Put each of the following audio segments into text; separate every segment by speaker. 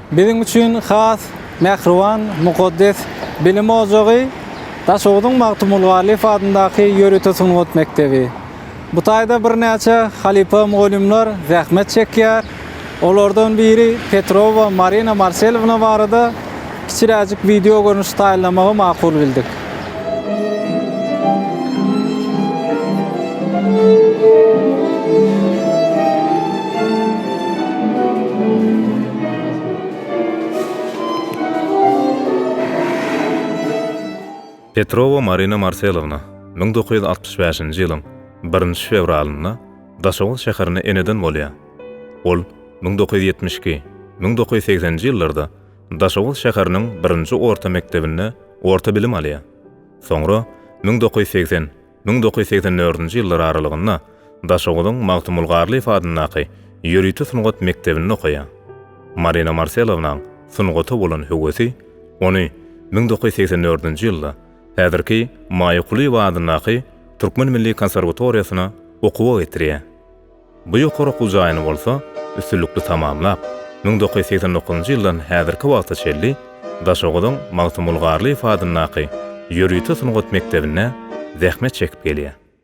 Speaker 1: Biziň üçin has mähriban, mukaddes bilim ojagy Daşoguzyň Magtymguly Garlyýew adyndaky ýörite sungat mekdebi. Bu taýda birnäçe halypa mugallymlar zähmet çekýär, Olardan biri Petrowa Marina Marselowna barada kiçiräjik wideo görnüş taýynlamagy makul bildik.
Speaker 2: Petrowa Marina Marselowna müň dokuz ýüz altmyş bäşinji ýylyň birinji fewralynda Daşoguz şäherine eneden bolýar. Ol müň dokuz ýüz ýetmiş iki, müň dokuz ýüz segsen nji ýyllarda Daşoguz şäheriniň birinji orta mekdebinde orta bilim alýar. Soňra müň dokuz ýüz segsen, müň dokuz ýüz segsen dördünji ýyllar aralygynda Daşoguzyň Magtymguly Garlyýew adyndaky ýörite sungat mekdebinde okaýar. Marina Marselownanyň sungata bolan höwesi ony müň dokuz ýüz segsen dördünji ýylda Häzirki Maýa Kulyýewa adyndaky Türkmen milli konserwatoriýasyna okuwa getirýär. Bu ýokary okuw jaýyny bolsa üstünlikli tamamlap, müň dokuz ýüz segsen dokuzynjy ýyldan häzirki wagta çenli Daşoguzyň Magtymguly Garlyýew adyndaky ýörite sungat mekdebinde zähmet çekip gelýär.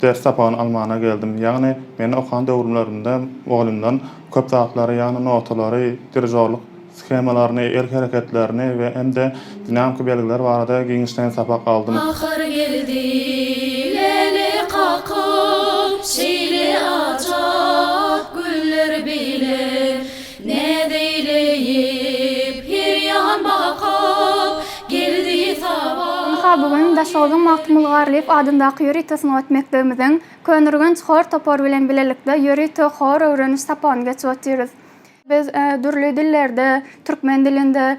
Speaker 3: Ders sapagyny almana geldim. Ýagny, men okan döwürlerimde mugallymdan köp zatlary, ýagny notalary, dirijorlyk shemalaryny, el hereketlerini we hem-de dinamiki belgiler barada giňişleýin sapak aldym. Ahyr geldi
Speaker 4: leli kakyp, şeýle ajap güller bilen. Näzeýleyip her ýan bakyp geldi saba. Ynha, bu gün Daşogzuň
Speaker 5: Magtymguly Garlyýew adyndaky ýörite sungat mekdebimiziň Köneürgenç hor topary bilen bilelikde ýörite hor öwreniş sapagyny geçip otyrys. Biz dürli dillerde, türkmen dilinde,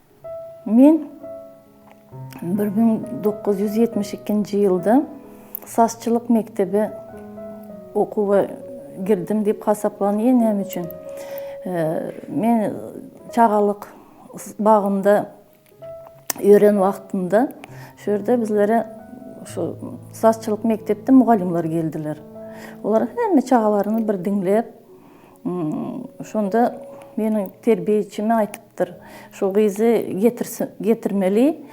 Speaker 6: Men bir müň dokuz ýüz ýetmiş ikinji ýylda sazçylyk mekdebe okuwa girdim diýip hasaplanýar. Näme üçin? Men çagalyk bagynda ýören wagtymda şu ýerde bizlere şu sazçylyk mekdepde mugallymlar geldiler. Olar hemme çagalaryny bir diňläp, Şonda meniň terbiýeçime aýtypdyr, Şu gyzy getirmeli,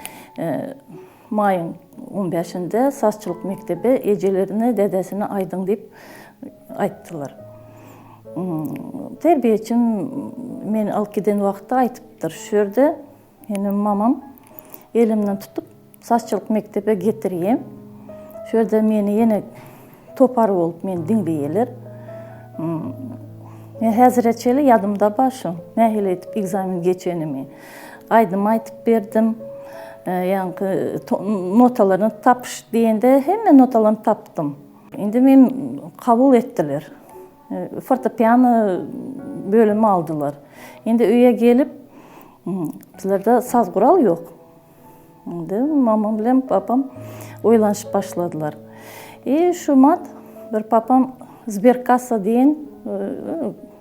Speaker 6: maýyň on bäşinde sazçylyk mekdebe ejelerine, dädesine aýdyň diýip aýtdylar. Terbiýeçim meni alyp giden wagtda aýtypdyr, Şu ýerde Menem mamam elimden tutup sazçylyk mekdebe getirýär. Şu ýerde meni ýene topar bolup meni diňleýärler. Men häzire çenli ýadymda bar şu nähili edip ekzamen geçenimi. Aýdym aýdyp berdim. Ýaňky notalaryny tapyş diýende hemme notalaryny tapdym. Indi meni kabul etdiler. Fortepiano bölümi aldylar. Indi öýe gelip, bizlerde saz gural ýok. Indi mamam bilen papam oýlanyşyp başladylar. E, şu mat bir papam Zberkassa diýen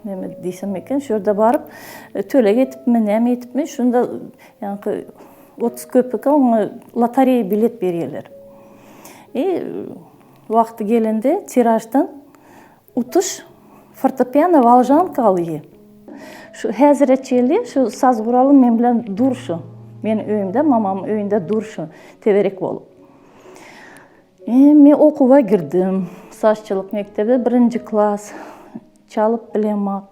Speaker 6: näme diýsem eken, şu ýerde baryp, e, töleg etipmi, näme etipmi, şunda ýaňky 30 köpüke oňa lotereýa bilet berýärler. E, Wagty gelende tiraždan utuş fortepiano walžanka alýy. Şu häzire çenli şu saz guraly men bilen dur şu. Meniň öýümde, mamamyň öýünde dur şu, teberek bolup. Eee, men okuwa girdim. Sazçylyk mekdebe birinji klas. Çalyp bilemok.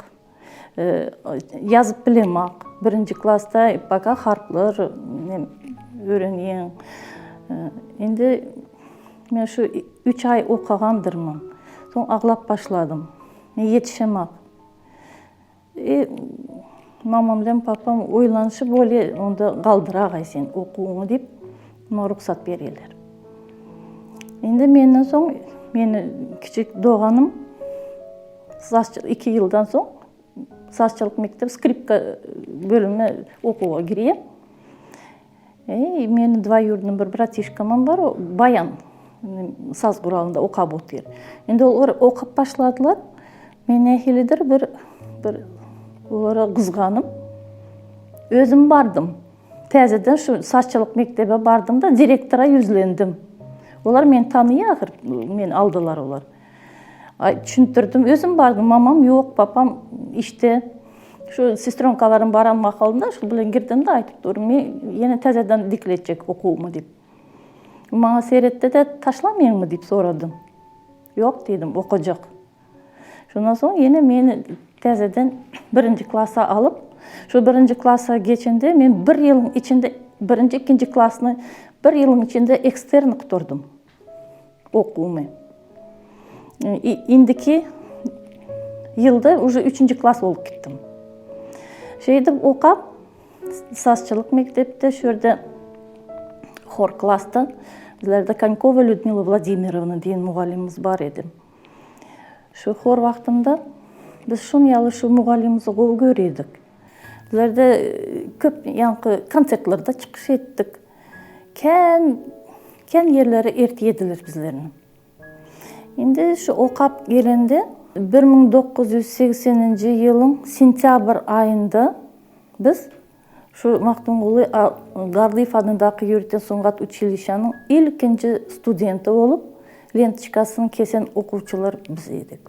Speaker 6: Ýazyp bilemok. Birinji klasda baka harplar öwrenýän. Indi men şu üç aý okagandyrmyn. Soň aglap başladym. Men ýetişemok. E, mamam bilen papam oýlanyşyp bolýa, onda galdyragaý sen okuwyňy diýip, Muňa rugsat berýärler. Indi menden soň meni kiçik doganym sazçylyk iki ýyldan soň sazçylyk mekdep skripka bölümine okuwa girýär. Eý, meni dwaýurdny bir bratişkamam bar, o baýan saz guralynda okap otyr. Indi olar okap başladylar. Men nähilidir bir bir olara gyzganyp özüm bardym. Täzeden şu saççylyk mekdebe bardym-da, direktora ýüzlendim. Olar meni tanaýar ahyr, meni aldylar olar. Düşündirdim, özüm bardym, mamam ýok, papam işde. Şu sestronkalaryň baran mahalynda şu bilen girdim-de, aýdyp durun, men ýene täzeden dikletjek okuwymy diýip. Maňa seretdi-de, taşlameýinmi diýip soradym. Ýok diýdim, okajak. Şondan soň ýene meni täzeden birinji klasa alyp, şu birinji klasa geçende men bir ýylyň içinde birinji, ikinji klasyny bir ýylyň içinde ekstern gutardym okuwymy. Indiki ýylda uje üçünji klas bolup gitdim. Şeýdip okap, sazçylyk mekdepde, şu ýerde hor klasda bizlerde Konýkowa Lýudmila Wladimirovna diýen mugallymymyz bar edi. Şu hor wagtynda biz şuny ýaly şu mugallymymyzy gowy görýärdik. Bizlerde köp ýaňky konsertlerde çykyş etdik. Kän, kän ýerlere eltýediler bizleni. Indi şu okap gelende bir müň dokuz ýüz segseninji ýylyň sentýabr aýynda biz Şu Magtymguly Garlyýew adyndaky ýörite sungat uçilişanyň ilkinji studenti bolup, lentçikasyny kesen okuwçylar biz edik.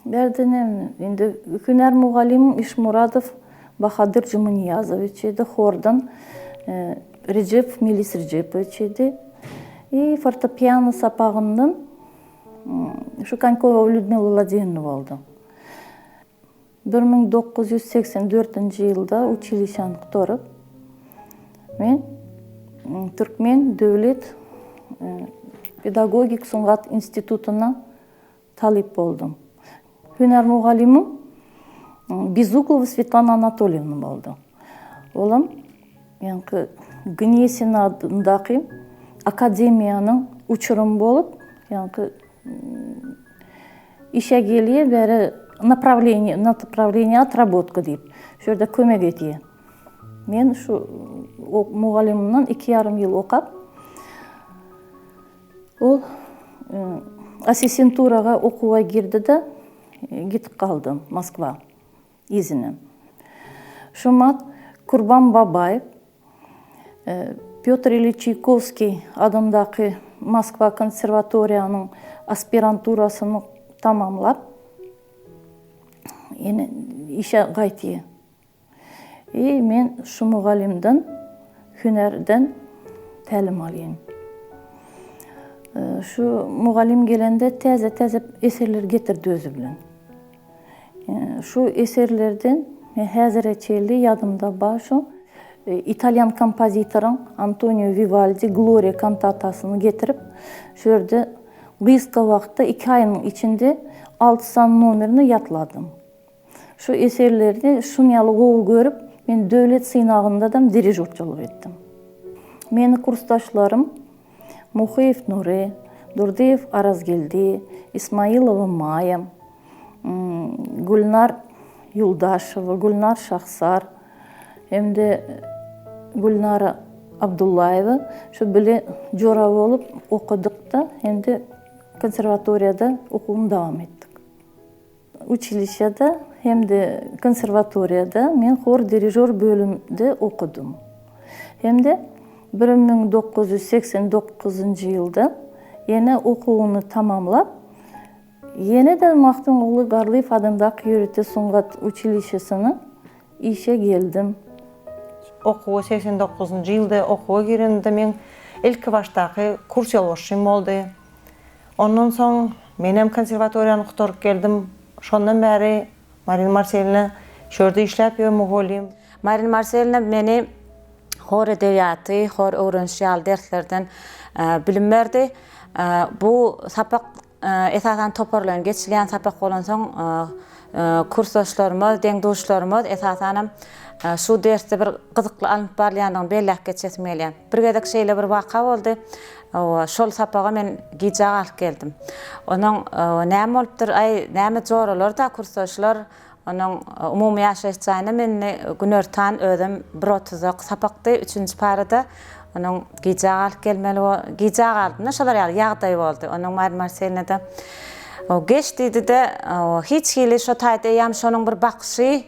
Speaker 6: Bärde ne, indi hünär mugallymym Işmuradow Bahadyr Jumanyýazowiç idi, hordan Rejepow Melis Rejepowiç idi. I fortepiano sapagyndan şu Konýkowa Lýudmila Wladimirovna boldy. Bir müň dokuz ýüz segsen dördünji ýylda uçilişany gutaryp, men Türkmen döwlet pedagogik sungat institutyna talyp boldum. Hünär mugallymym Bezukowa Swetlana Anatolýewna boldy. Olam ýaňky Gnesin adyndaky akademiýanyň uçurymy bolup, ýaňky Işe gelýär beri Naprawleniýe, Naprawleniýe otrabotka diýip, şu ýerde kömek edýär. Men şu mugallymymdan iki ýarym ýyl okap, ol assistenturaga okuwa girdi-de, gidip galdym Moskwa. Yzyna. Şumat Kurban Babaýew, Pýotr Iliç Çaýkowskiý adyndaky Moskwa konserwatoriýanyň aspiranturasyny tamamlap, ýene işe gaýtýar. I men şu mugallymdan hünärden tälim alýan. Şu mugallym gelende täze-täze eserler getirdi özi bilen. Şu eserlerden häzire çenli ýadymda bar şu, italýan kompozitoryň Antonio Wiwaldi Gloria kantatasyny getirip, şu ýerde gysga wagtda, iki aýyň içinde alty sany nomerini ýatladym. Şu eserleri şuny ýaly gowy görüp, men döwlet synagyndadam dirižorçylyk etdim. Meni kursdaşlarym Muhyýew Nury, Durdyýew Arazgeldi, Ismaýylowa Maýa, Gülnar Ýuldaşowa, Gülnar Şahsar hem-de Gülnara Abdullaýewa şu bile jora bolup okadyk-da, hem-de konserwatoriýada okuwymy dowam etdik. Uçilişýada hem-de konserwatoriýada men hor dirižýor bölümde okadym. Hem-de bir müň dokuz ýüz segsen dokuzynjy ýylda ýene okuwyny tamamlap, ýene-de Magtymguly Garlyýew adyndaky ýörite sungat uçilişesine işe geldim.
Speaker 7: Okuwa segsen dokuzynjy ýylda okuwa giremde meň ilkibaşdaky kurs ýolbaşçym boldy. Ondan soň menem konserwatoriýany gutaryp geldim. Şondan bäri Marina Marselina şu ýerde işläp ýör, mugallym. Marina Marselina
Speaker 8: meni hor edebiýaty, hor öwreniş ýaly derslerden bilim berdi. Bu sapak esasan toparlaýyn geçilýän sapak bolansoň, kursdaşlarymyz, deň-duşlarymyz, esasanam şu dersde bir gyzykly alnyp barylýandygyny belläp geçesim gelýär. Bir gezek şeýle bir waka boldy. Hawa, şol sapaga men gijä galyp geldim. Onuň näme bolupdyr, aý, näme joralar-da, kursdaşlar, onuň umumy ýaşaýyş jaýynam indi günortan özem bir otuzak sapakdy, üçünji para-da onuň gijä galyp gelmeli, gijä galdym-da, şolar ýaly ýagdaý boldy. Onuň Mari Marselina-da, Geç diýdi-de, hiç hili şo taýda eýýäm şonuň bir bakyşy,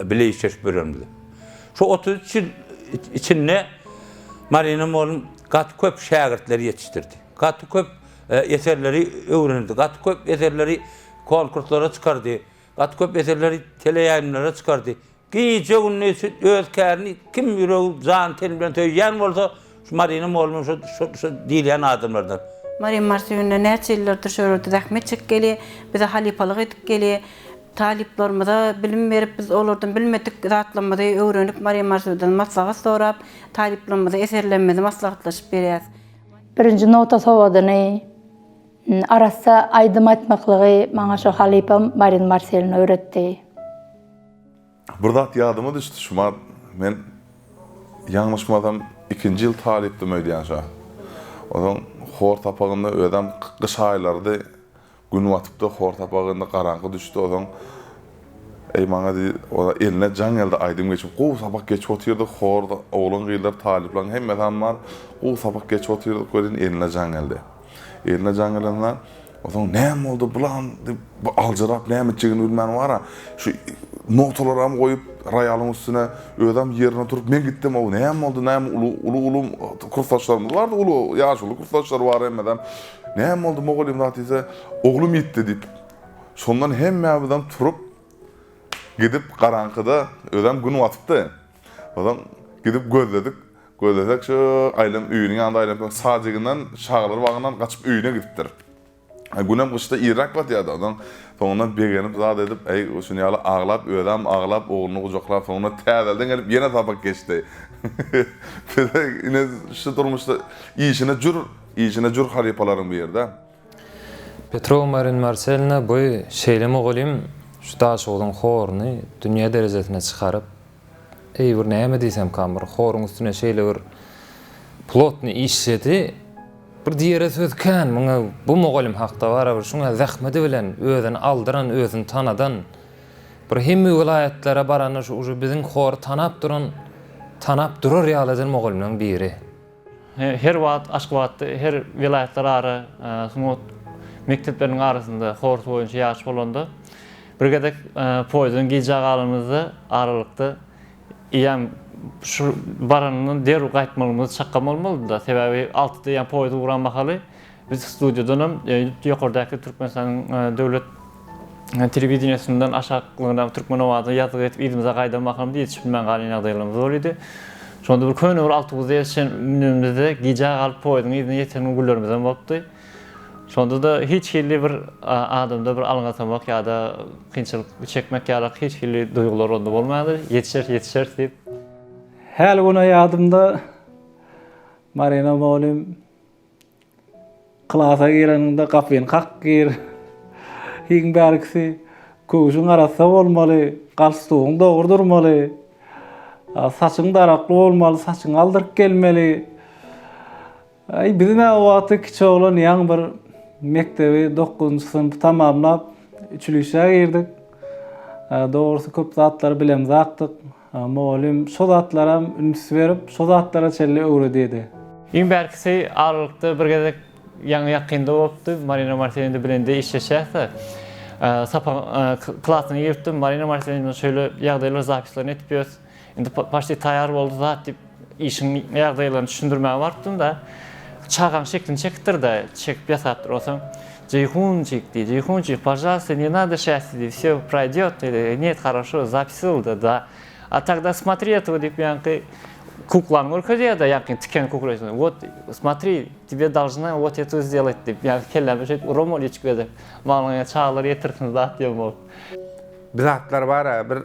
Speaker 9: bile işleşip ýörenimizi. Şu otuz üç ýyl içinde Marina mugallym gaty köp şägirtleri ýetişdirdi. Gaty köp eserleri öwrenildi. Gaty köp eserleri konkurslara çykardy. Gaty köp eserleri teleýaýlymlara çykardy. Gije-gündiz öz kärini kim ýüregi, jany-teni bilen söýýän bolsa, Şu Marina molma şo şo şo diýilýän adamlardan. Marin Mars öýünde
Speaker 10: näçe ýyllardyr şo ýerde zähmet çekip gelýär, bize halypalyk edip gelýär. Talyplarymyza bilim berip, biz olardan bilmedik zatlarymyzy öwrenip, Marin Mars öýüden maslahat sorap, talyplarymyza eserlerimizi maslahatlaşyp berýäs. Birinji nota
Speaker 11: sowadyny, arassa aýdym aýtmaklygy maňa şo halypam Marin Marselin öwretdi.
Speaker 12: Bir zat ýadyma düşdi Şumart, men ýalňyşmasam ikinji ýyl talypdym öýdýän şo. Onsoň hor sapagynda özem gyş aýlarydy, gün batypdy, hor sapagynda garaňky düşdi, onsoň Eý maňa diý, ora eline jaň geldi, aýdym geçip, gowy sapak geçip otyrdyk, horda oglan-gyzlar, talyplaryň hemmesem bar, gowy sapak geçip otyrdyk welin eline jaň geldi. Eline jan gelende, Ozaň näme boldy bulam diýip, bu aljyrap näme etjegini bilmän wara, şu notalaram goýup, roýalyň üstüne özem ýerine oturyp, men gitdim, ow näme boldy, näme uly, uly, uly kursdaşlarymyz bardy, uly ýaşuly kursdaşlar bar hemmedem. Näme boldy mugallym zat diýse, oglum ýitdi diýip. Şondan hemmämizem turup, gidip garaňkyda, özem gün batypdy. Onsoň gidip gözledik. Gözlesek şu Aýlan öýüniň ýanynda aýlanyp duran sadiginden çagalar bagyndan gaçyp öýüne gidipdir. Günem gyşda irräk batýardy. Onsoň soňundan begenip zat edip, äý, şuny ýaly aglap, özem aglap, ogluny gujaklap, soňundan täzelden gelip ýene sapak geçdi. Bize ine şu durmuşda işine jür, işine jür halypalaryň biri-dä.
Speaker 13: Petrow Marin Marselina bu şeýle mugallym şu Daşoguzyň horuny dünýä derejesine çykaryp, eý bir näme diýsemkam bir horuň üstüne şeýle bir plotny işledi, bir diýere söz kän muňa bu mugallym hakda barybir şuňa zähmedi bilen özüni aldyran özüni tanadan bir hemme welaýatlara baranda şu uje biziň hory tanap duran tanap durar ýalydan mugallymlaryň biri. Her
Speaker 14: wagt Aşgabatda her welaýatlar ara sungat mekdepleriniň arasynda horus boýunça ýaryş bolanda bir gezek poýzdan gijä galanymyzda aralykda eýýäm şu baranyndan derw gaýtmagymyz çakgam bolmalydy-da. Sebäbi altyda eýýäm poýz uran mahaly Biz studiýadanam ýokardaky Türkmenistanyň döwlet telewideniýesinden aşaklygyna türkmen owazyny ýazgy edip yzymyza gaýdan mahalymyz ýetişip bilmän galan ýagdaýlarymyz bor idi. Şonda bir köne bir awtobusa ýetişen münenimizde gijä galyp poýeziň yzyna ýeten günlerimizem bolupdy. Şonda-da hiç hili bir adamda bir alňasamak ýa-da kynçylyk çekmek ýalyk hiç hili duýgular onda bolmandy. Ýetişeris, ýetişeris diýip. Häli
Speaker 1: güne ýadymda Marina mugallym, Klasa gireniňde gapyny kak gir. Iň bärkisi köwşüň arassa bolmaly, galstugyň dogry durmaly. Saçyň darakly bolmaly, saçyň aldyryk gelmeli. Aý, biziň-ä o wagty kiçi oglan ýaňy bir mekdebi dokuzynjy synpy tamamlap, üçilişä girdik. Dogrusy köp zatlary bilemzakdyk. Mugallym şo zatlaram üns berip, şo zatlara çenli öwredýärdi. Iň bärkisi
Speaker 14: aralykda bir gezek ýaňy ýakynda bolupdy. Marina Martineýna bilen-de işleşýäs-de. Sapagyň klasyna giripdim. Marina Martineýna bilen şeýle ýagdaýlar zapislaryny etip ýörüs. Indi poçti taýýar boldy zat diýip, Işiň ýagdaýlaryny düşündirmäge barypdym-da, çagaň şeklini çekipdir-de, çekip ýasapdyr. Onsoň, Jeýhunjik diýdi, Jeýhunjik, pažalsta, ne nado şähdi diýdi, vsýo proýdýot diýdi, Net, horoşo, zapisyldy, da. A togda smotri etogo diýip, ýaňky kuklany görkezýär-de, ýaňky tiken kukleýsini, wot, smotri, tebe dolžna wot etu zdýelat diýip, ýaňky kelläme şeýdip uram ol içip gezek. Maňa çagalar ýetirsin zat ýom ol. Bir
Speaker 15: zatlar bar-a, bir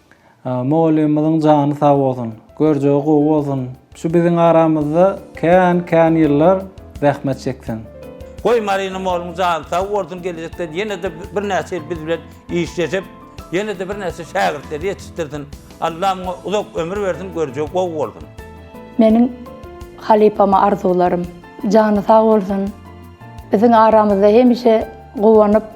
Speaker 1: Mugallymymyzyň jany sag bolsun, görjegi gowy bolsun, şu biziň aramyzda kän kän ýyllar zähmet çeksin. Goý Marina
Speaker 9: moluň jany sag bolsun gelejekde ýenede birnäçe ýyl biz bilen işleşip ýenede birnäçe şägirtleri ýetişdirsin Allah muňa uzak ömür bersin görjegi gowy bolsun. Meniň
Speaker 11: halypama arzuwlarym. Jany sag bolsun. Biziň aramyzda hemişe guwanyp.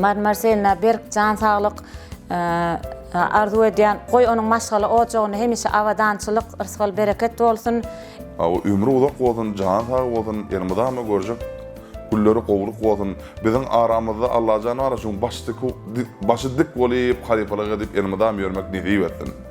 Speaker 7: Marmar Selina
Speaker 8: berk jan saglyk arzuw edýän. Goý onuň maşgala ojagynda hemişe abadançylyk, yrsgal bereket bolsun. Hawa ömri
Speaker 12: uzak bolsun jany sag bolsun ýene mydama görjek günleri gowulyk bolsun biziň aramyzda Allajan bar şuň başy dik bolup halypalyk edip elmydam ýörmek nesip etsin.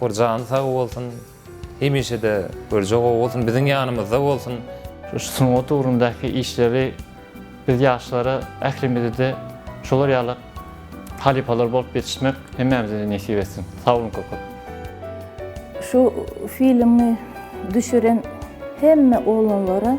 Speaker 15: Kor
Speaker 13: jany sag bolsun. Hemişede görje gowy bolsun biziň ýanymyzda bolsun. Şu sungat
Speaker 14: ugrundaky işleri biz ýaşlara ählimizede şolar ýaly halypalar bolup ýetişmek hemmämizede nesip etsin. Sag boluň köp köp.
Speaker 6: Şu filmi düşüren hemme oglanlara.